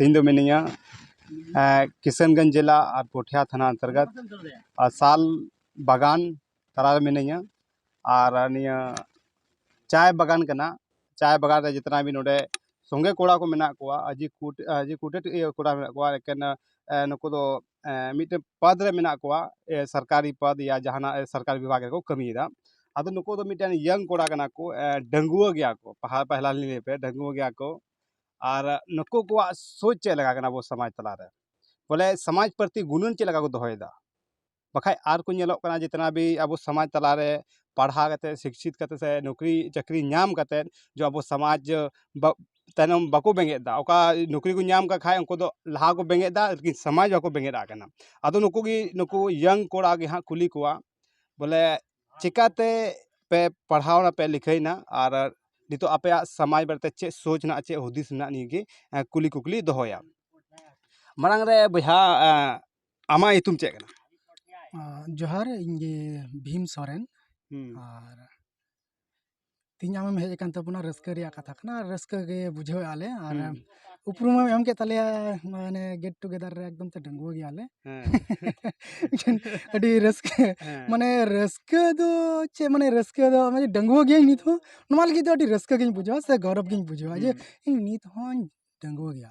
ᱤᱧ ᱫᱚ ᱢᱤᱱᱟᱹᱧᱟ ᱠᱤᱥᱟᱱᱜᱚᱸᱡᱽ ᱡᱮᱞᱟ ᱟᱨ ᱯᱳᱴᱷᱤᱭᱟ ᱛᱷᱟᱱᱟ ᱚᱱᱛᱚᱨᱜᱚᱛ ᱟᱨ ᱥᱟᱞ ᱵᱟᱜᱟᱱ ᱛᱟᱞᱟ ᱨᱮ ᱢᱤᱱᱟᱹᱧᱟ ᱟᱨ ᱱᱤᱭᱟᱹ ᱪᱟᱭ ᱵᱟᱜᱟᱱ ᱠᱟᱱᱟ ᱪᱟᱭ ᱵᱟᱜᱟᱱ ᱨᱮ ᱡᱚᱛᱚᱱᱟᱜ ᱜᱮ ᱱᱚᱰᱮ ᱥᱚᱸᱜᱮ ᱠᱚᱲᱟ ᱠᱚ ᱢᱮᱱᱟᱜ ᱠᱚᱣᱟ ᱟᱹᱰᱤ ᱟᱹᱰᱤ ᱠᱩᱴᱮᱴ ᱤᱭᱟᱹ ᱠᱚᱲᱟ ᱢᱮᱱᱟᱜ ᱠᱚᱣᱟ ᱮᱠᱮᱱ ᱱᱩᱠᱩ ᱫᱚ ᱢᱤᱫᱴᱮᱱ ᱯᱚᱫᱽ ᱨᱮ ᱢᱮᱱᱟᱜ ᱠᱚᱣᱟ ᱥᱚᱨᱠᱟᱨᱤ ᱯᱚᱫᱽ ᱭᱟ ᱡᱟᱦᱟᱱᱟᱜ ᱥᱚᱨᱠᱟᱨᱤ ᱵᱤᱵᱷᱟᱜᱽ ᱨᱮᱠᱚ ᱠᱟᱹᱢᱤᱭᱮᱫᱟ ᱟᱫᱚ ᱱᱩᱠᱩ ᱫᱚ ᱢᱤᱫᱴᱮᱱ ᱤᱭᱚᱝ ᱠᱚᱲᱟ ᱠᱟᱱᱟ ᱠᱚ ᱰᱟᱺᱜᱩᱣᱟᱹ ᱜᱮᱭᱟ ᱠᱚ ᱯᱟᱲᱦᱟᱣ ᱯᱟᱲᱦᱟᱣ ᱞᱤᱧ ᱞᱟᱹᱭ ᱟᱯᱮᱭᱟ ᱰᱟᱺᱜᱩᱣᱟᱹ ᱜᱮᱭᱟ ᱠᱚ ᱟᱨ ᱱᱩᱠᱩ ᱠᱚᱣᱟᱜ ᱥᱳᱪ ᱪᱮᱫ ᱞᱮᱠᱟ ᱠᱟᱱᱟ ᱟᱵᱚ ᱥᱚᱢᱟᱡᱽ ᱛᱟᱞᱟ ᱨᱮ ᱵᱚᱞᱮ ᱥᱚᱢᱟᱡᱽ ᱯᱨᱚᱛᱤ ᱜᱩᱱᱟᱹᱱ ᱪᱮᱫ ᱞᱮᱠᱟ ᱠᱚ ᱫᱚᱦᱚᱭᱮᱫᱟ ᱵᱟᱠᱷᱟᱡ ᱟᱨ ᱠᱚ ᱧᱮᱞᱚᱜ ᱠᱟᱱᱟ ᱡᱮ ᱡᱤᱛᱱᱟ ᱵᱷᱤ ᱟᱵᱚ ᱥᱚᱢᱟᱡᱽ ᱛᱟᱞᱟ ᱨᱮ ᱯᱟᱲᱦᱟᱣ ᱠᱟᱛᱮ ᱥᱤᱪᱪᱷᱤᱛ ᱠᱟᱛᱮ ᱥᱮ ᱱᱩᱠᱨᱤ ᱪᱟᱹᱠᱨᱤ ᱧᱟᱢ ᱠᱟᱛᱮ ᱡᱮ ᱟᱵᱚ ᱥᱚᱢᱟᱡᱽ ᱛᱟᱭᱱᱚᱢ ᱵᱟᱠᱚ ᱵᱮᱸᱜᱮᱫᱫᱟ ᱚᱠᱟ ᱱᱩᱠᱨᱤ ᱠᱚ ᱧᱟᱢ ᱠᱟᱜ ᱠᱷᱟᱡ ᱩᱱᱠᱩ ᱫᱚ ᱞᱟᱦᱟ ᱠᱚ ᱵᱮᱸᱜᱮᱫ ᱫᱟ ᱞᱮᱠᱤᱱ ᱥᱚᱢᱟᱡᱽ ᱵᱟᱠᱚ ᱵᱮᱸᱜᱮᱫ ᱟᱜ ᱠᱟᱱᱟ ᱟᱫᱚ ᱱᱩᱠᱩ ᱜᱮ ᱱᱩᱠᱩ ᱤᱭᱚᱝ ᱠᱚᱲᱟ ᱜᱮ ᱦᱟᱸᱜ ᱠᱩᱞᱤ ᱠᱚᱣᱟ ᱵᱚᱞᱮ ᱪᱤᱠᱟᱹᱛᱮ ᱯᱮ ᱯᱟᱲᱦᱟᱣ ᱱᱟᱯᱮ ᱞᱤᱠᱷᱟᱹᱭᱱᱟ ᱟᱨ ᱱᱤᱛᱳᱜ ᱟᱯᱮᱭᱟᱜ ᱥᱟᱢᱟᱡᱽ ᱵᱟᱨᱮᱛᱮ ᱪᱮᱫ ᱥᱳᱪ ᱢᱮᱱᱟᱜᱼᱟ ᱪᱮᱫ ᱦᱩᱫᱤᱥ ᱢᱮᱱᱟᱜᱼᱟ ᱱᱤᱭᱟᱹ ᱜᱮ ᱠᱩᱞᱤ ᱠᱩᱠᱞᱤ ᱫᱚᱦᱚᱭᱟ ᱢᱟᱲᱟᱝ ᱨᱮ ᱵᱚᱭᱦᱟ ᱟᱢᱟᱜ ᱧᱩᱛᱩᱢ ᱪᱮᱫ ᱠᱟᱱᱟ ᱡᱚᱦᱟᱨ ᱤᱧ ᱜᱮ ᱵᱷᱤᱢ ᱥᱚᱨᱮᱱ ᱟᱨ ᱛᱮᱦᱮᱧ ᱟᱢᱮᱢ ᱦᱮᱡ ᱟᱠᱟᱱ ᱛᱟᱵᱚᱱᱟ ᱨᱟᱹᱥᱠᱟᱹ ᱨᱮᱭᱟᱜ ᱠᱟᱛᱷᱟ ᱠᱟᱱᱟ ᱟᱨ ᱨᱟᱹᱥᱠᱟᱹ ᱜᱮ ᱵᱩᱡᱷᱟᱹᱣ ᱮᱫᱼᱟ ᱞᱮ ᱟᱨ ᱦᱩᱸ᱾ ᱩᱯᱨᱩᱢ ᱮᱢ ᱮᱢ ᱠᱮᱫ ᱛᱟᱞᱮᱭᱟ ᱢᱟᱱᱮ ᱜᱮᱴ ᱴᱩᱜᱮᱫᱟᱨ ᱨᱮ ᱮᱠᱫᱚᱢ ᱛᱮ ᱰᱟᱺᱜᱩᱣᱟᱹ ᱜᱮᱭᱟᱞᱮ ᱦᱮᱸ ᱟᱹᱰᱤ ᱨᱟᱹᱥᱠᱟᱹ ᱦᱮᱸ ᱢᱟᱱᱮ ᱨᱟᱹᱥᱠᱟᱹ ᱫᱚ ᱪᱮᱫ ᱢᱟᱱᱮ ᱨᱟᱹᱥᱠᱟᱹ ᱫᱚ ᱢᱟᱱᱮ ᱰᱟᱺᱜᱩᱣᱟᱹ ᱜᱤᱭᱟᱹᱧ ᱱᱤᱛ ᱦᱚᱸ ᱱᱚᱣᱟ ᱞᱟᱹᱜᱤᱫ ᱫᱚ ᱟᱹᱰᱤ ᱨᱟᱹᱥᱠᱟᱹ ᱜᱤᱧ ᱵᱩᱡᱷᱟᱹᱣᱟ ᱥᱮ ᱜᱚᱨᱚᱵᱽ ᱜᱤᱧ ᱵᱩᱡᱷᱟᱹᱣᱟ ᱡᱮ ᱦᱩᱸ, ᱤᱧ ᱱᱤᱛ ᱦᱚᱸᱧ ᱰᱟᱺᱜᱩᱣᱟᱹ ᱜᱮᱭᱟ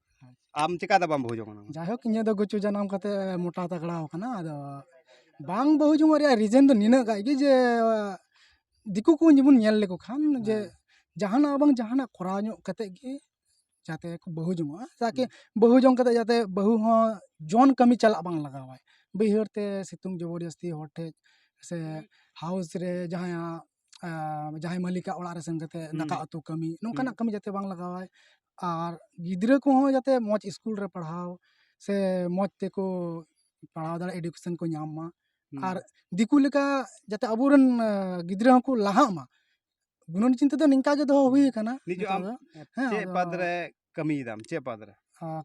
ᱟᱢ ᱪᱤᱠᱟᱹᱛᱮ ᱵᱟᱢ ᱵᱟᱹᱦᱩ ᱡᱚᱝ ᱠᱟᱱᱟ ᱡᱟᱭᱦᱳᱠ ᱤᱧᱟᱹᱜ ᱫᱚ ᱜᱩᱪᱩ ᱡᱟᱱᱟᱢ ᱠᱟᱛᱮᱫ ᱢᱚᱴᱟ ᱛᱟᱜᱽᱲᱟ ᱟᱠᱟᱱᱟ ᱟᱫᱚ ᱵᱟᱝ ᱵᱟᱹᱦᱩ ᱡᱚᱝᱚᱜ ᱨᱮᱭᱟᱜ ᱨᱤᱡᱮᱱ ᱫᱚ ᱱᱤᱱᱟᱹᱜ ᱜᱟᱱ ᱜᱮ ᱡᱮ ᱫᱤᱠᱩ ᱠᱚ ᱡᱮᱢᱚᱱ ᱧᱮᱞ ᱞᱮᱠᱚ ᱠᱷᱟᱱ ᱡᱮ ᱡᱟᱦᱟᱱᱟᱜ ᱵᱟᱝ ᱡᱟᱦᱟᱱᱟᱜ ᱠᱚᱨᱟᱣ ᱧᱚᱜ ᱠᱟᱛᱮᱫ ᱜᱮ ᱡᱟᱛᱮ ᱠᱚ ᱵᱟᱹᱦᱩ ᱡᱚᱝᱚᱜᱼᱟ ᱛᱟᱠᱤ ᱵᱟᱹᱦᱩ ᱡᱚᱝ ᱠᱟᱛᱮᱫ ᱡᱟᱛᱮ ᱵᱟᱹᱦᱩ ᱦᱚᱸ ᱡᱚᱱ ᱠᱟᱹᱢᱤ ᱪᱟᱞᱟᱜ ᱵᱟᱝ ᱞᱟᱜᱟᱣᱟᱭ ᱵᱟᱹᱭᱦᱟᱹᱲ ᱛᱮ ᱥᱤᱛᱩᱝ ᱡᱚᱵᱚᱨ ᱡᱟᱹᱥᱛᱤ ᱦᱚᱲ ᱴᱷᱮᱱ ᱥᱮ ᱦᱟᱣᱩᱥ ᱨᱮ ᱡᱟᱦᱟᱸᱭᱟᱜ ᱡᱟᱦᱟᱸᱭ ᱢᱟᱹᱞᱤᱠᱟᱜ ᱚᱲᱟᱜ ᱨᱮ ᱥᱮᱱ ᱠᱟᱛᱮ ᱫᱟᱠᱟ ᱩᱛᱩ ᱠᱟᱹᱢᱤ ᱱᱚᱝᱠᱟᱱᱟᱜ ᱠᱟᱹᱢᱤ ᱡᱟᱛᱮ ᱵᱟᱝ ᱞᱟᱜᱟᱣᱟᱭ ᱟᱨ ᱜᱤᱫᱽᱨᱟᱹ ᱠᱚᱦᱚᱸ ᱡᱟᱛᱮ ᱢᱚᱡᱽ ᱥᱠᱩᱞ ᱨᱮ ᱯᱟᱲᱦᱟᱣ ᱥᱮ ᱢᱚᱡᱽ ᱛᱮᱠᱚ ᱯᱟᱲᱦᱟᱣ ᱫᱟᱲᱮᱭᱟᱜ ᱮᱰᱩᱠᱮᱥᱚᱱ ᱠᱚ ᱧᱟᱢ ᱢᱟ ᱟᱨ ᱫᱤᱠᱩ ᱞᱮᱠᱟ ᱡᱟᱛᱮ ᱟᱵᱚ ᱨᱮᱱ ᱜᱤᱫᱽᱨᱟᱹ ᱦᱚᱸᱠᱚ ᱞᱟᱦᱟᱜ ᱢᱟ ᱜᱩᱱᱟᱹᱱ ᱪᱤᱱᱛᱟᱹ ᱫᱚ ᱱᱤᱝᱠᱟ ᱜᱮ ᱫᱚᱦᱚ ᱦᱩᱭ ᱟᱠᱟᱱᱟ ᱱᱤᱛᱚᱜ ᱫᱚ ᱦᱮᱸ ᱪᱮᱫ ᱯᱟᱫᱽ ᱨᱮ ᱠᱟᱹᱢᱤᱭᱮᱫᱟᱢ ᱪᱮᱫ ᱯᱟᱫᱽ ᱨᱮ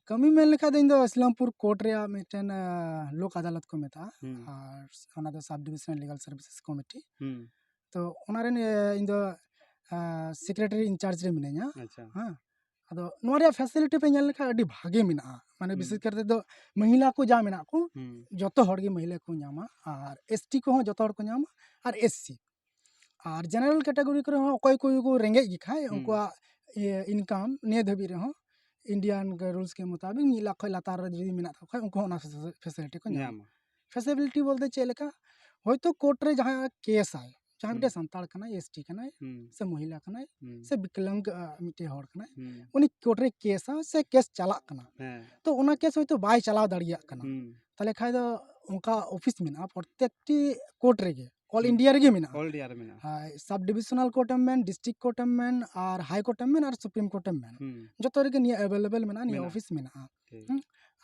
ᱠᱟᱹᱢᱤ ᱢᱮᱱ ᱞᱮᱠᱷᱟᱡ ᱫᱚ ᱤᱧ ᱫᱚ ᱤᱥᱞᱟᱢᱯᱩᱨ ᱠᱳᱨᱴ ᱨᱮᱭᱟᱜ ᱢᱤᱫᱴᱮᱱ ᱞᱳᱠ ᱟᱫᱟᱞᱚᱛ ᱠᱚ ᱢᱮᱛᱟᱜᱼᱟ ᱟᱨ ᱚᱱᱟ ᱫᱚ ᱥᱟᱵᱽ ᱰᱤᱵᱷᱤᱥᱚᱱ ᱞᱤᱜᱟᱞ ᱥᱟᱨᱵᱷᱤᱥᱮᱥ ᱠᱚᱢᱤᱴᱤ ᱛᱚ ᱚᱱᱟ ᱨᱮᱱ ᱤᱧ ᱫᱚ ᱥᱮᱠᱨᱮᱴᱟᱨᱤ ᱤᱱᱪᱟᱨᱡᱽ ᱨᱮ ᱢᱤᱱᱟᱹᱧᱟ ᱦᱮᱸ ᱟᱫᱚ ᱱᱚᱣᱟ ᱨᱮᱭᱟᱜ ᱯᱷᱮᱥᱤᱞᱤᱴᱤ ᱯᱮ ᱧᱮᱞ ᱞᱮᱠᱷᱟᱡ ᱟᱹᱰᱤ ᱵᱷᱟᱜᱮ ᱢᱮᱱᱟᱜᱼᱟ ᱢᱟᱱᱮ ᱵᱤᱥᱮᱥ ᱠᱟᱨᱛᱮ ᱫᱚ ᱢᱚᱦᱤᱞᱟ ᱠᱚ ᱡᱟ ᱢᱮᱱᱟᱜ ᱠᱚ ᱡᱚᱛᱚ ᱦᱚᱲ ᱜᱮ ᱢᱚᱦᱤᱞᱟ ᱠᱚ ᱧᱟᱢᱟ ᱟᱨ ᱮᱥ ᱴᱤ ᱠᱚᱦᱚᱸ ᱡᱚᱛᱚ ᱦᱚᱲ ᱠᱚ ᱧᱟᱢᱟ ᱟᱨ ᱮᱥ ᱥᱤ ᱟᱨ ᱡᱮᱱᱟᱨᱮᱞ ᱠᱮᱴᱟᱜᱚᱨᱤ ᱠᱚᱨᱮ ᱦᱚᱸ ᱚᱠᱚᱭ ᱠᱚ ᱨᱮᱸᱜᱮᱡ ᱜᱮ ᱠᱷᱟᱡ ᱩᱱᱠᱩᱣᱟᱜ ᱤᱭᱟᱹ ᱤᱱᱠᱟᱢ ᱱᱤᱭᱟᱹ ᱫᱷᱟᱹᱵᱤᱡ ᱨᱮᱦᱚᱸ ᱤᱱᱰᱤᱭᱟᱱ ᱨᱩᱞᱥ ᱠᱮ ᱢᱩᱛᱟᱵᱤᱠ ᱢᱤᱫ ᱞᱟᱠᱷ ᱠᱷᱚᱡ ᱞᱟᱛᱟᱨ ᱨᱮ ᱡᱩᱫᱤ ᱢᱮᱱᱟᱜ ᱛᱟᱠᱚ ᱠᱷᱟᱡ ᱩᱱᱠᱩ ᱦᱚᱸ ᱚᱱᱟ ᱯᱷᱮᱥᱮᱞᱤᱴᱤ ᱠᱚ ᱧᱟᱢᱟ ᱯᱷᱮᱥᱮᱞᱤᱴᱤ ᱵᱚᱞᱛᱮ ᱪᱮᱫ ᱞᱮᱠᱟ ᱦᱳᱭᱛᱳ ᱠᱳᱨᱴ ᱨᱮ ᱡᱟᱦᱟᱸᱭ ᱠᱮᱥᱟᱭ ᱡᱟᱦᱟᱸᱭ ᱢᱤᱫᱴᱮᱡ ᱥᱟᱱᱛᱟᱲ ᱠᱟᱱᱟᱭ ᱮᱥ ᱴᱤ ᱠᱟᱱᱟᱭ ᱥᱮ ᱢᱚᱦᱤᱞᱟ ᱠᱟᱱᱟᱭ ᱥᱮ ᱵᱤᱠᱞᱟᱝ ᱢᱤᱫᱴᱮᱡ ᱦᱚᱲ ᱠᱟᱱᱟᱭ ᱩᱱᱤ ᱠᱳᱨᱴ ᱨᱮ ᱠᱮᱥᱟ ᱥᱮ ᱠᱮᱥ ᱪᱟᱞᱟᱜ ᱠᱟᱱᱟ ᱛᱚ ᱚᱱᱟ ᱠᱮᱥ ᱦᱳᱭᱛᱳ ᱵᱟᱭ ᱪᱟᱞᱟᱣ ᱫᱟᱲᱮᱭᱟᱜ ᱠᱟᱱᱟ ᱛᱟᱦᱞᱮ ᱠᱷᱟᱡ ᱫᱚ ᱚᱱᱠᱟ ᱚᱯᱷᱤᱥ ᱢᱮᱱᱟᱜᱼᱟ ᱯᱨᱚᱛᱛᱮᱠᱴᱤ ᱠᱳᱨᱴ ᱨᱮᱜᱮ ᱚᱞ ᱤᱱᱰᱤᱭᱟ ᱨᱮᱜᱮ ᱢᱮᱱᱟᱜᱼᱟ ᱚᱞ ᱤᱱᱰᱤᱭᱟ ᱨᱮ ᱢᱮᱱᱟᱜᱼᱟ ᱥᱟᱵ ᱰᱤᱵᱷᱤᱥᱚᱱᱟᱞ ᱠᱳᱨᱴ ᱮᱢ ᱢᱮᱱ ᱰᱤᱥᱴᱨᱤᱠ ᱠᱳᱨᱴ ᱮᱢ ᱢᱮᱱ ᱟᱨ ᱦᱟᱭ ᱠᱳᱨᱴ ᱮᱢ ᱢᱮᱱ ᱟᱨ ᱥᱩᱯᱨᱤᱢ ᱠᱳᱨᱴ ᱮᱢ ᱢᱮᱱ ᱡᱚᱛᱚ ᱨᱮᱜᱮ ᱱᱤᱭᱟᱹ ᱮᱵᱮᱞᱮᱵᱮᱞ ᱢᱮᱱᱟᱜᱼᱟ ᱱᱤᱭᱟᱹ ᱚᱯᱷᱤᱥ ᱢᱮᱱᱟᱜᱼᱟ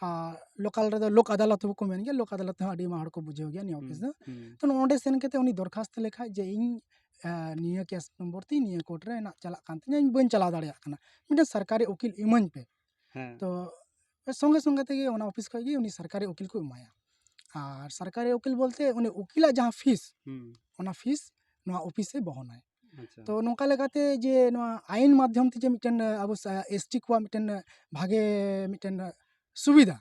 ᱟᱨ ᱞᱳᱠᱟᱞ ᱨᱮᱫᱚ ᱞᱳᱠ ᱟᱫᱟᱞᱚᱛ ᱦᱚᱸᱠᱚ ᱢᱮᱱ ᱜᱮᱭᱟ ᱞᱳᱠ ᱟᱫᱟᱞᱚᱛ ᱦᱚᱸ ᱟᱹᱰᱤ ᱟᱭᱢᱟ ᱦᱚᱲ ᱠᱚ ᱵᱩᱡᱷᱟᱹᱣ ᱜᱮᱭᱟ ᱱᱤᱭᱟᱹ ᱚᱯᱷᱤᱥ ᱫᱚ ᱛᱚ ᱱᱚᱸᱰᱮ ᱥᱮᱱ ᱠᱟᱛᱮ ᱩᱱᱤ ᱫᱚᱨᱠᱷᱟᱥᱛᱚ ᱞᱮᱠᱷᱟᱡ ᱡᱮ ᱤᱧ ᱱᱤᱭᱟᱹ ᱠᱮᱥ ᱱᱚᱢᱵᱚᱨ ᱛᱤᱧ ᱱᱤᱭᱟᱹ ᱠᱳᱨᱴ ᱨᱮ ᱦᱮᱱᱟᱜ ᱪᱟᱞᱟᱜ ᱠᱟᱱ ᱛᱤᱧᱟ ᱤᱧ ᱵᱟᱹᱧ ᱪᱟᱞᱟᱣ ᱫᱟᱲᱮᱭᱟᱜ ᱠᱟᱱᱟ ᱢᱤᱫᱴᱮᱱ ᱥᱚᱨᱠᱟᱨᱤ ᱩᱠᱤᱞ ᱤᱢᱟᱹᱧ ᱯᱮ ᱛᱚ ᱥᱚᱸᱜᱮ ᱥᱚᱸᱜᱮ ᱛᱮᱜᱮ ᱚᱱᱟ ᱚᱯᱷᱤᱥ ᱠᱷᱚᱡ ᱜᱮ ᱩᱱᱤ ᱥᱚᱨᱠᱟᱨᱤ ᱩᱠᱤᱞ ᱠᱚ ᱮᱢᱟᱭᱟ ᱟᱨ ᱥᱚᱨᱠᱟᱨᱤ ᱩᱠᱤᱞ ᱵᱚᱞᱛᱮ ᱩᱱᱤ ᱩᱠᱤᱞᱟᱜ ᱡᱟᱦᱟᱸ ᱯᱷᱤᱥ ᱚᱱᱟ ᱯᱷᱤᱥ ᱱᱚᱣᱟ ᱚᱯᱷᱤᱥᱮ ᱵᱚᱦᱚᱱᱟᱭ ᱛᱚ ᱱᱚᱝᱠᱟ ᱞᱮᱠᱟᱛᱮ ᱡᱮ ᱱᱚᱣᱟ ᱟᱭᱤᱱ ᱢᱟᱫᱽᱫᱷᱚᱢ ᱛᱮ ᱡᱮ ᱢᱤᱫᱴᱮᱱ ᱟᱵᱚ ᱮᱥ ᱴᱤ ᱠᱚᱣᱟᱜ ᱢᱤᱫᱴᱮᱱ ᱵᱷᱟᱜᱮ ᱢᱤᱫᱴᱮᱱ ᱥᱩᱵᱤᱫᱟ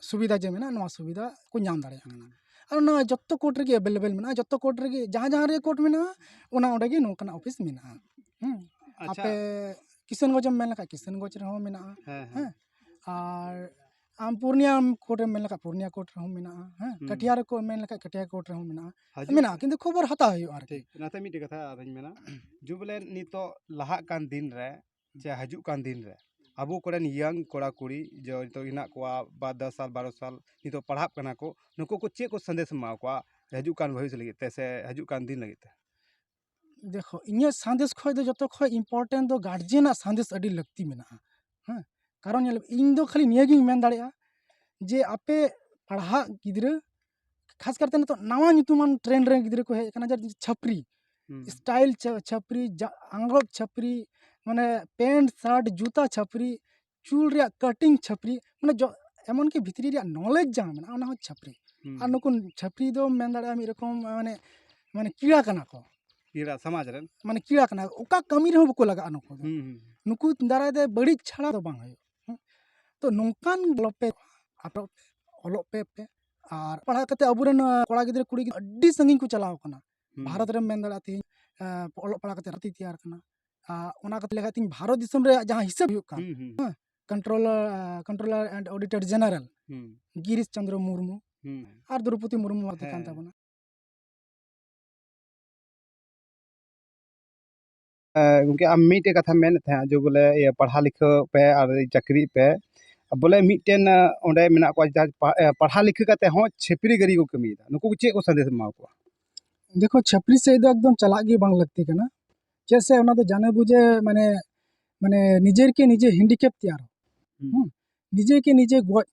ᱥᱩᱵᱤᱫᱟ ᱡᱮ ᱢᱮᱱᱟᱜᱼᱟ ᱱᱚᱣᱟ ᱥᱩᱵᱤᱫᱟ ᱠᱚ ᱧᱟᱢ ᱫᱟᱲᱮᱭᱟᱜ ᱠᱟᱱᱟ ᱟᱨ ᱱᱚᱣᱟ ᱡᱚᱛᱚ ᱠᱳᱨᱴ ᱨᱮᱜᱮ ᱮᱵᱮᱞᱮᱵᱮᱞ ᱢᱮᱱᱟᱜᱼᱟ ᱡᱚᱛᱚ ᱠᱳᱨᱴ ᱨᱮᱜᱮ ᱡᱟᱦᱟᱸ ᱡᱟᱦᱟᱸ ᱨᱮ ᱠᱳᱨᱴ ᱢᱮᱱᱟᱜᱼᱟ ᱚᱱᱟ ᱚᱸᱰᱮ ᱜᱮ ᱱᱚᱝᱠᱟᱱᱟᱜ ᱚᱯᱷᱤᱥ ᱢᱮᱱᱟᱜᱼᱟ ᱟᱯᱮ ᱠᱤᱥᱟᱱᱜᱚᱸᱡᱽ ᱮᱢ ᱢᱮᱱ ᱞᱮᱠᱷᱟᱱ ᱠᱤᱥᱟᱱᱜᱚᱸᱡᱽ ᱨᱮᱦᱚᱸ ᱢᱮᱱᱟᱜᱼᱟ ᱦᱮᱸ ᱟᱨ ᱟᱢ ᱯᱩᱨᱩᱞᱤᱭᱟᱹ ᱠᱳᱨᱴ ᱮᱢ ᱢᱮᱱ ᱞᱮᱠᱷᱟᱱ ᱯᱩᱨᱩᱞᱤᱭᱟᱹ ᱠᱳᱨᱴ ᱨᱮᱦᱚᱸ ᱢᱮᱱᱟᱜᱼᱟ ᱦᱮᱸ ᱠᱟᱴᱷᱤᱭᱟᱨ ᱠᱚ ᱮᱢ ᱢᱮᱱ ᱞᱮᱠᱷᱟᱱ ᱠᱟᱴᱷᱤᱭᱟᱨ ᱠᱳᱨᱴ ᱨᱮᱦᱚᱸ ᱢᱮᱱᱟᱜᱼᱟ ᱢᱮᱱᱟᱜᱼᱟ ᱠᱤᱱᱛᱩ ᱠᱷᱚᱵᱚᱨ ᱦᱟᱛᱟᱣ ᱦᱩᱭᱩᱜᱼᱟ ᱟᱨᱠᱤ ᱚᱱᱟᱛᱮ ᱢᱤᱫᱴᱮᱱ ᱠᱟᱛᱷᱟ ᱟᱨᱚᱧ ᱢᱮᱱᱟ ᱡᱩᱵᱽᱞᱮ ᱱᱤᱛᱚᱜ ᱞᱟᱦᱟᱜ ᱠᱟᱱ ᱫᱤᱱ ᱨᱮ ᱡᱮ ᱦᱤᱡᱩᱜ ᱠᱟᱱ ᱫᱤᱱ ᱨᱮ ᱟᱵᱚ ᱠᱚᱨᱮᱱ ᱤᱭᱚᱝ ᱠᱚᱲᱟ ᱠᱩᱲᱤ ᱡᱮ ᱱᱤᱛᱚᱜ ᱦᱮᱱᱟᱜ ᱠᱚᱣᱟ ᱵᱟᱨ ᱫᱚᱥ ᱥᱟᱞ ᱵᱟᱨᱚ ᱥᱟᱞ ᱱᱤᱛᱚᱜ ᱯᱟᱲᱦᱟᱜ ᱠᱟᱱᱟ ᱠᱚ ᱱᱩᱠᱩ ᱠᱚ ᱪᱮᱫ ᱠᱚ ᱥᱟᱸᱫᱮᱥ ᱮᱢ ᱮᱢᱟ ᱠᱚᱣᱟ ᱦᱤᱡᱩᱜ ᱠᱟᱱ ᱵᱷᱚᱵᱤᱥ ᱞᱟᱹᱜᱤᱫ ᱛᱮ ᱥᱮ ᱦᱤᱡᱩᱜ ᱠᱟᱱ ᱫᱤᱱ ᱞᱟᱹᱜᱤᱫ ᱛᱮ ᱫᱮᱠᱷᱳ ᱤᱧᱟᱹᱜ ᱥᱟᱸᱫᱮᱥ ᱠᱷᱚᱡ ᱫᱚ ᱡᱚᱛᱚ ᱠᱷᱚᱡ ᱤᱢᱯᱳᱨᱴᱮᱱᱴ ᱫᱚ ᱜᱟᱨᱡᱮᱱᱟᱜ ᱥᱟᱸᱫᱮᱥ ᱟᱹᱰᱤ ᱞᱟᱹᱠᱛᱤ ᱢᱮᱱᱟᱜᱼᱟ ᱦᱮᱸ ᱠᱟᱨᱚᱱ ᱧᱮᱞ ᱢᱮ ᱤᱧ ᱫᱚ ᱠᱷᱟᱹᱞᱤ ᱱᱤᱭᱟᱹ ᱜᱤᱧ ᱢᱮᱱ ᱫᱟᱲᱮᱭᱟᱜᱼᱟ ᱡᱮ ᱟᱯᱮ ᱯᱟᱲᱦᱟᱜ ᱜᱤᱫᱽᱨᱟᱹ ᱠᱷᱟᱥ ᱠᱟᱨᱛᱮ ᱱᱤᱛᱚᱜ ᱱᱟᱣᱟ ᱧᱩᱛᱩᱢᱟᱱ ᱴᱨᱮᱱᱰ ᱨᱮᱱ ᱜᱤᱫᱽᱨᱟᱹ ᱠᱚ ᱦᱮᱡ ᱠᱟᱱᱟ ᱡᱟᱦᱟᱸ ᱫᱚ ᱪᱷᱟᱹᱯᱨᱤ ᱥᱴᱟᱭᱤᱞ ᱪᱷᱟᱹᱯᱨᱤ ᱟᱝᱨᱚᱵ ᱪᱷᱟᱹᱯᱨᱤ ᱢᱟᱱᱮ ᱯᱮᱱᱴ ᱥᱟᱨᱴ ᱡᱩᱛᱟᱹ ᱪᱷᱟᱹᱯᱨᱤ ᱪᱩᱞ ᱨᱮᱭᱟᱜ ᱠᱟᱴᱤᱝ ᱪᱷᱟᱹᱯᱨᱤ ᱢᱟᱱᱮ ᱡᱚ ᱮᱢᱚᱱ ᱠᱤ ᱵᱷᱤᱛᱨᱤ ᱨᱮᱭᱟᱜ ᱱᱚᱞᱮᱡᱽ ᱡᱟᱦᱟᱸ ᱢᱮᱱᱟᱜᱼᱟ ᱚᱱᱟ ᱦᱚᱸ ᱪᱷᱟᱹᱯᱨᱤ ᱟᱨ ᱱᱩᱠᱩ ᱪᱷᱟᱹᱯᱨᱤ ᱫᱚ ᱢᱮᱱ ᱫᱟᱲᱮᱭᱟᱜᱼᱟ ᱢᱤᱫ ᱨᱚᱠᱚᱢ ᱢᱟᱱᱮ ᱢᱟᱱᱮ ᱠᱤᱲᱟ ᱠᱟᱱᱟ ᱠᱚ ᱠᱤᱲᱟ ᱥᱚᱢᱟᱡᱽ ᱨᱮᱱ ᱢᱟᱱᱮ ᱠᱤᱲᱟ ᱠᱟᱱᱟ ᱚᱠᱟ ᱠᱟᱹᱢᱤ ᱨᱮᱦᱚᱸ ᱵᱟᱠᱚ ᱞᱟᱜᱟᱜᱼᱟ ᱱᱩᱠᱩ ᱫᱚ ᱱᱩᱠᱩ ᱫᱟᱨᱟᱭ ᱛᱮ ᱵᱟᱹᱲᱤᱡ ᱪᱷᱟᱲᱟ ᱫᱚ ᱵᱟᱝ ᱦᱩᱭᱩᱜᱼᱟ ᱛᱚ ᱱᱚᱝᱠᱟᱱ ᱚᱞᱚᱜ ᱯᱮ ᱟᱴᱚᱜ ᱯᱮ ᱚᱞᱚᱜ ᱯᱮ ᱯᱮ ᱟᱨ ᱯᱟᱲᱦᱟᱣ ᱠᱟᱛᱮ ᱟᱵᱚᱨᱮᱱ ᱠᱚᱲᱟ ᱜᱤᱫᱽᱨᱟᱹ ᱠᱩᱲᱤ ᱜᱤᱫᱽᱨᱟᱹ ᱟᱹᱰᱤ ᱥᱟᱺᱜᱤᱧ ᱠᱚ ᱪᱟᱞᱟᱣ ᱠᱟᱱᱟ ᱵᱷᱟᱨᱚᱛ ᱨᱮᱢ ᱢᱮᱱ ᱫᱟᱲᱮᱭᱟᱜᱼᱟ ᱛᱮᱦᱮᱧ ᱚᱞᱚᱜ ᱯᱟᱲᱦᱟᱣ ᱠᱟᱛᱮ ᱨᱟᱛᱮ ᱛᱮᱭᱟᱨ ᱠᱟᱱᱟ ᱚᱱᱟ ᱠᱟᱛᱮ ᱞᱮᱠᱷᱟᱡ ᱛᱤᱧ ᱵᱷᱟᱨᱚᱛ ᱫᱤᱥᱚᱢ ᱨᱮᱭᱟᱜ ᱡᱟᱦᱟᱸ ᱦᱤᱥᱟᱹᱵ ᱦᱩᱭᱩᱜ ᱠᱟᱱ controller controller and auditor general Girish Chandra Murmu ᱟᱨ ᱫᱨᱚᱯᱚᱫᱤ ᱢᱩᱨᱢᱩ ᱟᱛᱮ ᱠᱟᱱ ᱛᱟᱵᱚᱱᱟ ᱜᱚᱢᱠᱮ ᱟᱢ ᱢᱤᱫᱴᱮᱡ ᱠᱟᱛᱷᱟᱢ ᱢᱮᱱᱮᱫ ᱛᱟᱦᱮᱸᱫ ᱡᱮ ᱵᱚᱞᱮ ᱤᱭᱟᱹ ᱯᱟᱲᱦᱟᱣ ᱞᱤᱠᱷᱟᱹ ᱯᱮ ᱟᱨ ᱪᱟᱹᱠᱨᱤᱜ ᱯᱮ ᱵᱚᱞᱮ ᱢᱤᱫᱴᱮᱱ ᱚᱸᱰᱮ ᱢᱮᱱᱟᱜ ᱠᱚᱣᱟ ᱡᱟᱦᱟᱸ ᱯᱟᱲᱦᱟᱣ ᱞᱤᱠᱷᱟᱹ ᱠᱟᱛᱮ ᱦᱚᱸ ᱪᱷᱟᱹᱯᱨᱤ ᱜᱟᱹᱨᱤ ᱠᱚ ᱠᱟᱹᱢᱤᱭᱮᱫᱟ ᱱᱩᱠᱩ ᱪᱮᱫ ᱠᱚ ᱥᱟᱸᱫᱮᱥ ᱮᱢᱟ ᱠᱚᱣᱟ ᱫᱮᱠᱷᱚ ᱪᱷᱟᱹᱯᱨᱤ ᱥᱮᱫ ᱫᱚ ᱮᱠᱫᱚᱢ ᱪᱟᱞᱟᱜ ᱜᱮ ᱵᱟᱝ ᱞᱟᱹᱠᱛᱤ ᱠᱟᱱᱟ ᱪᱮᱫᱟᱜ ᱥᱮ ᱚᱱᱟ ᱫᱚ ᱡᱟᱱᱮ ᱵᱩᱡᱮ ᱢᱟᱱᱮ ᱢᱟᱱᱮ ᱱᱤᱡᱮᱨ ᱠᱮ ᱱᱤᱡᱮ ᱦᱮᱱᱰᱤᱠᱮᱯ ᱛᱮᱭᱟᱨ ᱦᱮᱸ ᱱᱤᱡᱮ ᱠᱮ ᱱᱤᱡᱮ ᱜᱚᱡ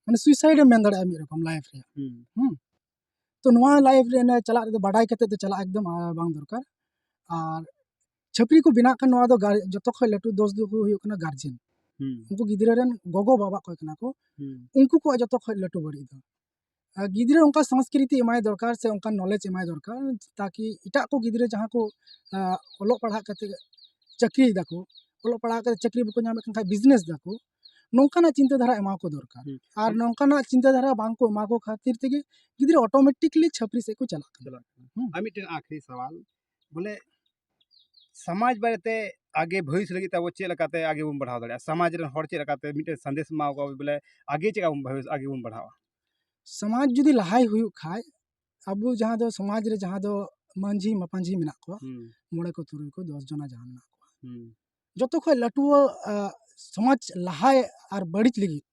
ᱢᱟᱱᱮ ᱥᱩᱭᱥᱟᱭᱤᱰ ᱮᱢ ᱢᱮᱱ ᱫᱟᱲᱮᱭᱟᱜᱼᱟ ᱢᱤᱫ ᱨᱚᱠᱚᱢ ᱞᱟᱭᱤᱯᱷ ᱨᱮ ᱦᱮᱸ ᱛᱚ ᱱᱚᱣᱟ ᱞᱟᱭᱤᱯᱷ ᱨᱮ ᱪᱟᱞᱟᱜ ᱨᱮᱫᱚ ᱵᱟᱰᱟᱭ ᱠᱟᱛᱮ ᱫᱚ ᱪᱟᱞᱟᱜ ᱮᱠᱫᱚᱢ ᱵᱟᱝ ᱫᱚᱨᱠᱟᱨ ᱟᱨ ᱪᱷᱟᱹᱯᱨᱤ ᱠᱚ ᱵᱮᱱᱟᱜ ᱠᱟᱱᱟ ᱱᱚᱣᱟ ᱫᱚ ᱡᱚᱛᱚ ᱠᱷᱚᱱ ᱞᱟᱹᱴᱩ ᱫᱳᱥ ᱫᱚ ᱦᱩᱭᱩᱜ ᱠᱟᱱᱟ ᱜᱟᱨᱡᱮᱱ ᱩᱱᱠᱩ ᱜᱤᱫᱽᱨᱟᱹ ᱨᱮᱱ ᱜᱚᱜᱚ ᱵᱟᱵᱟ ᱠᱚ ᱠᱟᱱᱟ ᱠᱚ ᱩᱱᱠᱩ ᱠᱚᱣᱟᱜ ᱡᱚᱛᱚ ᱠᱷᱚᱱ ᱞᱟᱹᱴᱩ ᱵᱟᱹᱲᱤᱡ ᱫᱚ ᱜᱤᱫᱽᱨᱟᱹ ᱚᱱᱠᱟ ᱥᱚᱝᱥᱠᱨᱤᱛᱤ ᱮᱢᱟᱭ ᱫᱚᱨᱠᱟᱨ ᱥᱮ ᱚᱱᱠᱟᱱ ᱱᱚᱞᱮᱡᱽ ᱮᱢᱟᱭ ᱫᱚᱨᱠᱟᱨ ᱛᱟᱠᱤ ᱮᱴᱟᱜ ᱠᱚ ᱜᱤᱫᱽᱨᱟᱹ ᱡᱟᱦᱟᱸ ᱠᱚ ᱚᱞᱚᱜ ᱯᱟᱲᱦᱟᱜ ᱠᱟᱛᱮ ᱪᱟᱹᱠᱨᱤᱭ ᱫᱟᱠᱚ ᱚᱞᱚᱜ ᱯᱟᱲᱦᱟᱜ ᱠᱟᱛᱮ ᱪᱟᱹᱠᱨᱤ ᱵᱟᱠᱚ ᱧᱟᱢᱮᱫ ᱠᱟᱱ ᱠᱷᱟᱡ ᱵᱤᱡᱽᱱᱮᱥ ᱫᱟᱠᱚ ᱱᱚᱝᱠᱟᱱᱟᱜ ᱪᱤᱱᱛᱟᱹ ᱫᱷᱟᱨᱟ ᱮᱢᱟ ᱠᱚ ᱫᱚᱨᱠᱟᱨ ᱟᱨ ᱱᱚᱝᱠᱟᱱᱟᱜ ᱪᱤᱱᱛᱟᱹ ᱫᱷᱟᱨᱟ ᱵᱟᱝ ᱠᱚ ᱮᱢᱟ ᱠᱚ ᱠᱷᱟᱹᱛᱤᱨ ᱛᱮᱜᱮ ᱜᱤᱫᱽᱨᱟᱹ ᱚᱴᱳᱢᱮᱴᱤᱠᱞᱤ ᱪᱷᱟᱹᱯᱨᱤ ᱥᱮᱫ ᱠᱚ ᱪᱟᱞᱟᱜ ᱠᱟᱱᱟ ᱟᱨ ᱢᱤᱫᱴᱮᱱ ᱟᱹᱠᱷᱨᱤ ᱥᱟᱶᱟᱞ ᱵᱚᱞᱮ ᱥᱚᱢᱟᱡᱽ ᱵᱟᱨᱮᱛᱮ ᱟᱜᱮ ᱵᱷᱚᱵᱤᱥ ᱞᱟᱹᱜᱤᱫ ᱛᱮ ᱟᱵᱚ ᱪᱮᱫ ᱞᱮᱠᱟᱛᱮ ᱟᱜᱮ ᱵᱚᱱ ᱵᱟᱲᱦᱟᱣ ᱫᱟᱲᱮᱭᱟᱜᱼᱟ ᱥᱚᱢᱟᱡᱽ ᱨᱮᱱ ᱦᱚᱲ ᱪᱮᱫ ᱞᱮᱠᱟᱛᱮ ᱢᱤᱫᱴᱮᱱ ᱥᱟᱸᱫᱮᱥ ᱮᱢᱟ ᱠᱚᱣᱟ ᱵᱚᱞᱮ ᱟᱜᱮ ᱪᱮᱫ ᱞᱮᱠᱟ ᱵᱚᱱ ᱵᱷᱚᱵᱤᱥ ᱟᱜᱮ ᱵᱚᱱ ᱵᱟᱲᱦᱟᱣᱟ ᱥᱚᱢᱟᱡᱽ ᱡᱩᱫᱤ ᱞᱟᱦᱟᱭ ᱦᱩᱭᱩᱜ ᱠᱷᱟᱱ ᱟᱵᱚ ᱡᱟᱦᱟᱸ ᱫᱚ ᱥᱚᱢᱟᱡᱽ ᱨᱮ ᱡᱟᱦᱟᱸ ᱫᱚ ᱢᱟᱹᱡᱷᱤ ᱢᱟᱯᱟᱡᱷᱤ ᱢᱮᱱᱟᱜ ᱠᱚᱣᱟ ᱢᱚᱬᱮ ᱠᱚ ᱛᱩᱨᱩᱭ ᱠᱚ ᱫᱚᱥ ᱡᱚᱱᱟ ᱡᱟᱦᱟᱸ ᱢᱮᱱᱟᱜ ᱠᱚᱣᱟ ᱡᱚᱛᱚ ᱠᱷᱚᱱ ᱞᱟᱹᱴᱩ ᱥᱚᱢᱟᱡᱽ ᱞᱟᱦᱟᱭ ᱟᱨ ᱵᱟᱹᱲᱤᱡ ᱞᱟᱹᱜᱤᱫ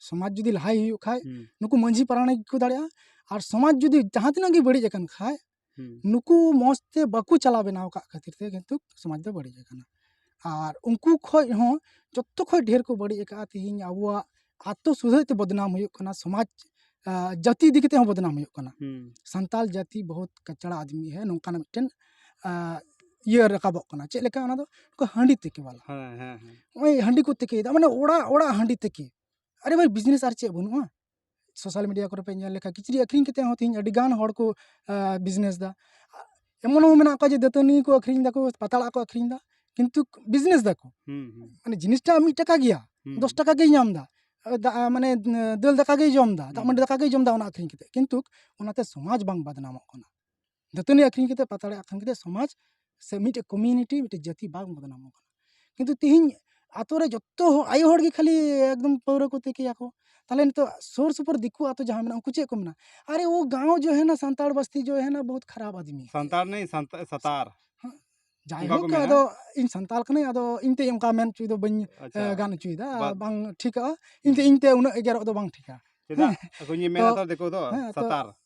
ᱥᱚᱢᱟᱡᱽ ᱡᱩᱫᱤ ᱞᱟᱦᱟᱭ ᱦᱩᱭᱩᱜ ᱠᱷᱟᱡ ᱱᱩᱠᱩ ᱢᱟᱹᱡᱷᱤ ᱯᱟᱨᱟᱱᱤᱠ ᱜᱮᱠᱚ ᱫᱟᱲᱮᱭᱟᱜᱼᱟ ᱟᱨ ᱥᱚᱢᱟᱡᱽ ᱡᱩᱫᱤ ᱡᱟᱦᱟᱸ ᱛᱤᱱᱟᱹᱜ ᱜᱮ ᱵᱟᱹᱲᱤᱡ ᱟᱠᱟᱱ ᱠᱷᱟᱡ ᱱᱩᱠᱩ ᱢᱚᱡᱽ ᱛᱮ ᱵᱟᱠᱚ ᱪᱟᱞᱟᱣ ᱵᱮᱱᱟᱣ ᱠᱟᱜ ᱠᱷᱟᱹᱛᱤᱨ ᱛᱮ ᱠᱤᱱᱛᱩ ᱥᱚᱢᱟᱡᱽ ᱫᱚ ᱵᱟᱹᱲᱤᱡ ᱟᱠᱟᱱᱟ ᱟᱨ ᱩᱱᱠᱩ ᱠᱷᱚᱡ ᱦᱚᱸ ᱡᱚᱛᱚ ᱠᱷᱚᱡ ᱰᱷᱮᱨ ᱠᱚ ᱵᱟᱹᱲᱤᱡ ᱟᱠᱟᱫᱼᱟ ᱛᱤᱦᱤᱧ ᱟᱵᱚᱣᱟᱜ ᱟᱛᱳ ᱥᱩᱫᱷᱟᱹᱜ ᱛᱮ ᱵᱚᱫᱽᱱᱟᱢ ᱦᱩᱭᱩᱜ ᱠᱟᱱᱟ ᱥᱚᱢᱟᱡᱽ ᱡᱟᱹᱛᱤ ᱤᱫᱤ ᱠᱟᱛᱮ ᱦᱚᱸ ᱵᱚᱫᱽᱱᱟᱢ ᱦᱩᱭᱩᱜ ᱠᱟᱱᱟ ᱥᱟᱱᱛᱟᱞ ᱡᱟᱹᱛᱤ ᱵᱚᱦᱩᱛ ᱠᱟᱪᱲᱟ ᱟᱫᱽᱢᱤ ᱦᱮ ᱱᱚᱝᱠᱟᱱᱟᱜ ᱢᱤᱫᱴᱮᱱ ᱤᱭᱟᱹ ᱨᱟᱠᱟᱵᱚᱜ ᱠᱟᱱᱟ ᱪᱮᱫ ᱞᱮᱠᱟ ᱚᱱᱟ ᱫᱚ ᱚᱠᱟ ᱦᱟᱺᱰᱤ ᱛᱤᱠᱤ ᱵᱟᱞᱟ ᱱᱚᱜᱼᱚᱭ ᱦᱟᱺᱰᱤ ᱠᱚ ᱛᱤᱠᱤᱭᱮᱫᱟ ᱢᱟᱱᱮ ᱚᱲᱟᱜ ᱚᱲᱟᱜ ᱦᱟᱺᱰᱤ ᱛᱤᱠᱤ ᱟᱨᱮ ᱵᱷᱟᱹᱭ ᱵᱤᱡᱽᱱᱮᱥ ᱟᱨ ᱪᱮᱫ ᱵᱟᱹᱱᱩᱜᱼᱟ ᱥᱳᱥᱟᱞ ᱢᱤᱰᱤᱭᱟ ᱠᱚᱨᱮ ᱯᱮ ᱧᱮᱞ ᱞᱮᱠᱷᱟᱱ ᱠᱤᱪᱨᱤᱡ ᱟᱹᱠᱷᱨᱤᱧ ᱠᱟᱛᱮ ᱦᱚᱸ ᱛᱮᱦᱮᱧ ᱟᱹᱰᱤ ᱜᱟᱱ ᱦᱚᱲ ᱠᱚ ᱵᱤᱡᱽᱱᱮᱥ ᱫᱟ ᱮᱢᱚᱱ ᱦᱚᱸ ᱢᱮᱱᱟᱜ ᱠᱚᱣᱟ ᱡᱮ ᱫᱟᱹᱛᱟᱹᱱᱤ ᱠᱚ ᱟᱹᱠᱷᱨᱤᱧ ᱫᱟᱠᱚ ᱯᱟᱛᱲᱟ ᱠᱚ ᱟᱹᱠᱷᱨᱤᱧ ᱫᱟ ᱠᱤᱱᱛᱩ ᱵᱤᱡᱽᱱᱮᱥ ᱫᱟᱠᱚ ᱢᱟᱱᱮ ᱡᱤᱱᱤᱥᱴᱟ ᱢᱤᱫ ᱴᱟᱠᱟ ᱜᱮᱭᱟ ᱫᱚᱥ ᱴᱟᱠᱟ ᱜᱮᱭ ᱧᱟᱢ ᱫᱟ ᱢᱟᱱᱮ ᱫᱟᱹᱞ ᱫᱟᱠᱟ ᱜᱮᱭ ᱡᱚᱢ ᱫᱟ ᱫᱟᱜ ᱢᱟᱹᱰᱤ ᱫᱟᱠᱟ ᱜᱮᱭ ᱡᱚᱢ ᱫᱟ ᱚᱱᱟ ᱟᱹᱠᱷᱨᱤᱧ ᱠᱟᱛᱮ ᱠᱤᱱᱛᱩ ᱚᱱᱟᱛᱮ ᱥᱚᱢᱟᱡᱽ ᱵᱟᱝ ᱵᱚᱫᱱᱟᱢᱚᱜ ᱠᱟᱱᱟ ᱫᱟᱹᱛᱟᱹᱱᱤ ᱟᱹᱠᱷᱨᱤᱧ ᱠᱟᱛᱮ ᱯᱟᱛᱲᱟ ᱟᱹᱠᱷᱨᱤᱧ ᱠᱟᱛᱮ ᱥᱚᱢᱟᱡᱽ ᱥᱮ ᱢᱤᱫᱴᱮᱱ ᱠᱚᱢᱤᱭᱩᱱᱤᱴᱤ ᱢᱤᱫᱴᱮᱱ ᱡᱟᱹᱛᱤ ᱵᱟᱝ ᱵᱚᱫᱽᱱᱟᱢᱚᱜ ᱠᱟᱱᱟ ᱠᱤᱱᱛᱩ ᱛᱮᱦᱮᱧ ᱟᱹᱛᱩ ᱨᱮ ᱡᱚᱛᱚ ᱦᱚᱲ ᱟᱭᱳ ᱦᱚᱲ ᱜᱮ ᱠᱷᱟᱹᱞᱤ ᱮᱠᱫᱚᱢ ᱯᱟᱹᱣᱨᱟᱹ ᱠᱚ ᱛᱤᱠᱤᱭᱟ ᱠᱚ ᱛᱟᱦᱚᱞᱮ ᱱᱤᱛᱚᱜ ᱥᱩᱨ ᱥᱩᱯᱩᱨ ᱫᱤᱠᱩ ᱟᱹᱛᱩ ᱡᱟᱦᱟᱸ ᱢᱮᱱᱟᱜᱼᱟ ᱩᱱᱠᱩ ᱪᱮᱫ ᱠᱚ ᱢᱮᱱᱟ ᱟᱨᱮ ᱳ ᱜᱟᱶ ᱡᱳ ᱦᱮᱱᱟ ᱥᱟᱱᱛᱟᱲ ᱵᱟᱥᱛᱤ ᱡᱳ ᱦᱮᱱᱟ ᱵᱚᱦᱩᱛ ᱠᱷᱟᱨᱟᱯ ᱟᱫᱢᱤ ᱥᱟᱱᱛᱟᱲ ᱱᱮᱭ ᱥᱟᱛᱟᱨ ᱡᱟᱭᱦᱳᱠ ᱟᱫᱚ ᱤᱧ ᱥᱟᱱᱛᱟᱲ ᱠᱟᱹᱱᱟᱹᱧ ᱟᱫᱚ ᱤᱧ ᱛᱮ ᱚᱱᱠᱟ ᱢᱮᱱ ᱦᱚᱪᱚᱭ ᱫᱚ ᱵᱟᱹᱧ ᱜᱟᱱ ᱦᱚᱪᱚᱭᱮᱫᱟ ᱵᱟᱝ ᱴᱷᱤᱠᱟ ᱤᱧ ᱛᱮ ᱤᱧ ᱛᱮ ᱩᱱᱟᱹᱜ ᱮᱜᱮᱨᱚᱜ ᱫᱚ ᱵᱟᱝ ᱴᱷᱤᱠᱟ ᱪᱮᱫᱟᱜ ᱟᱠᱚᱧ ᱢᱮᱱᱟ ᱛᱚ ᱫᱤᱠᱩ ᱫᱚ ᱥᱟᱛᱟᱨ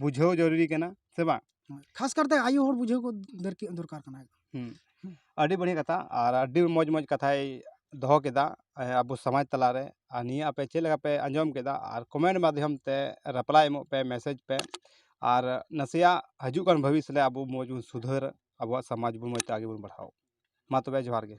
ᱵᱩᱡᱷᱟᱹᱣ ᱡᱟᱹᱨᱩᱨᱤ ᱠᱟᱱᱟ ᱥᱮ ᱵᱟᱝ ᱠᱷᱟᱥ ᱠᱟᱨᱛᱮ ᱟᱭᱳ ᱦᱚᱲ ᱵᱩᱡᱷᱟᱹᱣ ᱠᱚ ᱫᱚᱨᱠᱟᱨ ᱠᱟᱱᱟ ᱟᱹᱰᱤ ᱵᱟᱹᱲᱤᱡ ᱠᱟᱛᱷᱟ ᱟᱨ ᱟᱹᱰᱤ ᱢᱚᱡᱽ ᱢᱚᱡᱽ ᱠᱟᱛᱷᱟᱭ ᱫᱚᱦᱚ ᱠᱮᱫᱟ ᱟᱵᱚ ᱥᱚᱢᱟᱡᱽ ᱛᱟᱞᱟᱨᱮ ᱟᱨ ᱱᱤᱭᱟᱹ ᱟᱯᱮ ᱪᱮᱫ ᱞᱮᱠᱟ ᱯᱮ ᱟᱸᱡᱚᱢ ᱠᱮᱫᱟ ᱟᱨ ᱠᱚᱢᱮᱱᱴ ᱢᱟᱫᱽᱫᱷᱚᱢ ᱛᱮ ᱨᱤᱯᱞᱟᱭ ᱮᱢᱚᱜ ᱯᱮ ᱢᱮᱥᱮᱡᱽ ᱯᱮ ᱟᱨ ᱱᱟᱥᱮᱭᱟᱜ ᱦᱤᱡᱩᱜ ᱠᱟᱱ ᱵᱷᱚᱵᱤᱥ ᱨᱮ ᱟᱵᱚ ᱢᱚᱡᱽ ᱵᱚᱱ ᱥᱩᱫᱷᱟᱹᱨ ᱟᱵᱚᱣᱟᱜ ᱥᱚᱢᱟᱡᱽ ᱵᱚᱱ ᱢᱚᱡᱽ ᱛᱮ ᱟᱜᱮ ᱵᱚᱱ ᱵᱟᱲᱦᱟᱣ ᱢᱟ ᱛᱚᱵᱮ ᱡᱚᱦᱟᱨ ᱜᱮ